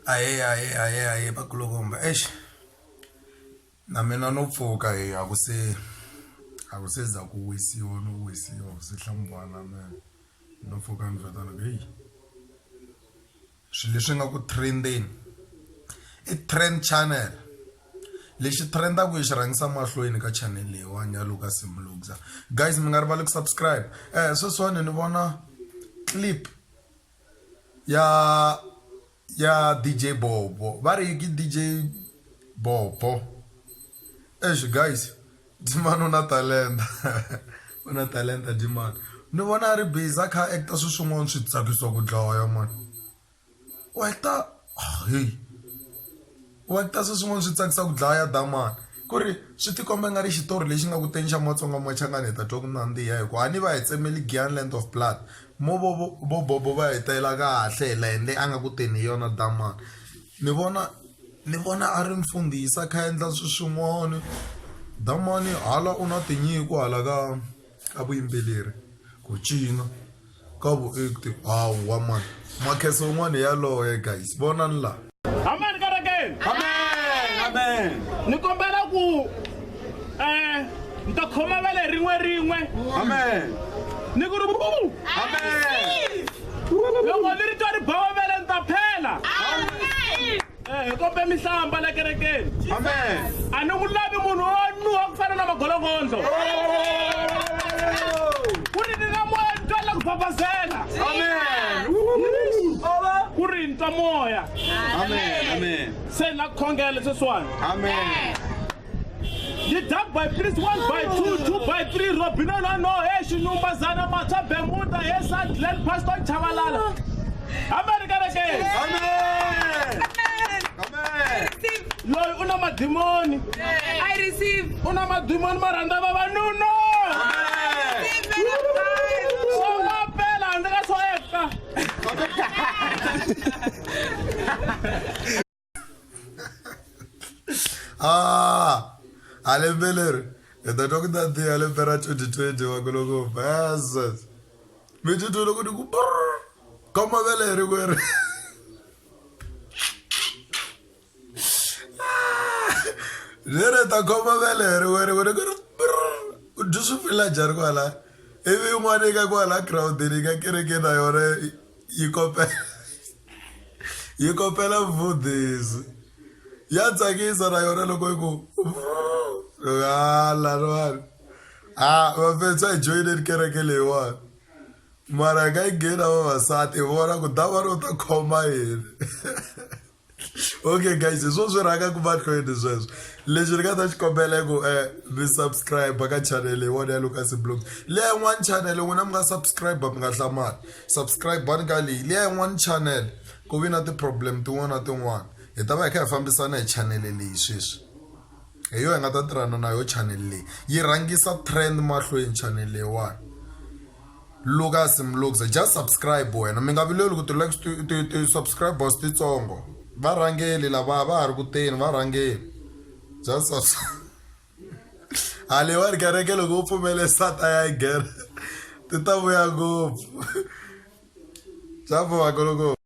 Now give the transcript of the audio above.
ahee ahee ahee ahee vakulukumba eish na mina no pfuka hi a ku se a ku se za ku wisiwa no wisiwa ku se hlambiwa na mina no pfuka ni twa tano ku heyi swilo leswi nga ku trend-eni i trend channel lexi trend-aku hi xi rhangisa mahlweni ka channel leyiwani ya Lucas Mlungza guys mi nga rivali ku subscribe sweswiwani ni vona clip. ya ya D_J bobo ba re ke D_J bobo exi guys Dimani u na talenta u na talenta Dimani ni vona a ri busy a kha a act-a swin'wana swi tsakisa ku dlaya mani . heyi u va ta sweswi n'wana swi tsakisa ku dlaya ya dlaya mani ku ri swi ti komba nga ri xitori lexi nga ku teni xa matsonga machangani hi ta twa ku nandziha hi ku a ni va hi tsemeli Giyani land of blood mo vo vo vo bobo va hi tela kahle hi layeni leyi a nga ku teni hi yona dlaya mani ni vona ni vona a ri mfundhisi a kha a endla swi swin'wani dlaya mani hala u na tinyiko hala ka ka vuyimbeleri ku cina. ka vuekti hawa man makhese un'wana yaloye guys vonani laha amen kerekeni amen amen ni kombela ku um ni ta khoma va le rin'we rin'we amen ni ku ri amen loko ni ri twa ri bawa vele ni ta phela amen Eh, hi kombe mihlamba la kerekeni a ni n'wi lavi munhu wo nuha ku fana na magolongondo ku ri ni na moya ni twela ku babazela ku ri ni twa moya se na ku khongela sweswiwani Didab by Prince 1 by 2, 2 by 3, Robino no no, hey, Shinumba Zana Mata Bermuda, hey, Sad Glen Pastor Chavalala. America again. Amen. Amen. Loyi una madimoni. I receive. Una madimoni maranda vavanuna. Songa pela handle ka swo eka. ah alembeleri hi ta twa ku nandziha lembe ra 2020 wa ku loko versus mi titwe loko ni ku ka mavele hi ri kweri ni ri ta khoma vele hi ri kweri ku ni ku ri ku dyi swi fila njhani kwala ivi yin'wana yi ka kwala girawundini yi ka kereke na yona yi kopela yi kopela mfundhisi ya tsakisa na yona loko yi ku hala riwani a vafetsa hi joyineni kereke leyiwani mara hi nga yi nghena vavasati hi vona ku dava ro ta khoma yini okay guys hi swo swi rhanga ku mahlweni sweswo lexi ni nga ta xi kombela ku um eh, mi subscribe ka channel yin'wana ya lucas blog leya yin'wana channel n'wina mi nga subscribe mi nga hlamali subscribe bani ka leyi liya yin'wana channel ku vi na ti-problem tin'wana na tin'wana hi ta va hi kha hi fambisana hi chanele leyi sweswi hi yo hi nga ta tirhana na yo chanele leyi yi rhangisa trend mahlweni chanele leyiwani lucas mlux just subscribe wena mi nga vileli ku ti-likes ti-subscribers titsongo varhangeli lava va ha ri kuteni varhangeli just a leyiwani kereke loko u pfumele sata ya yi gere ti ta vuya ngopfu swa pfumaka loko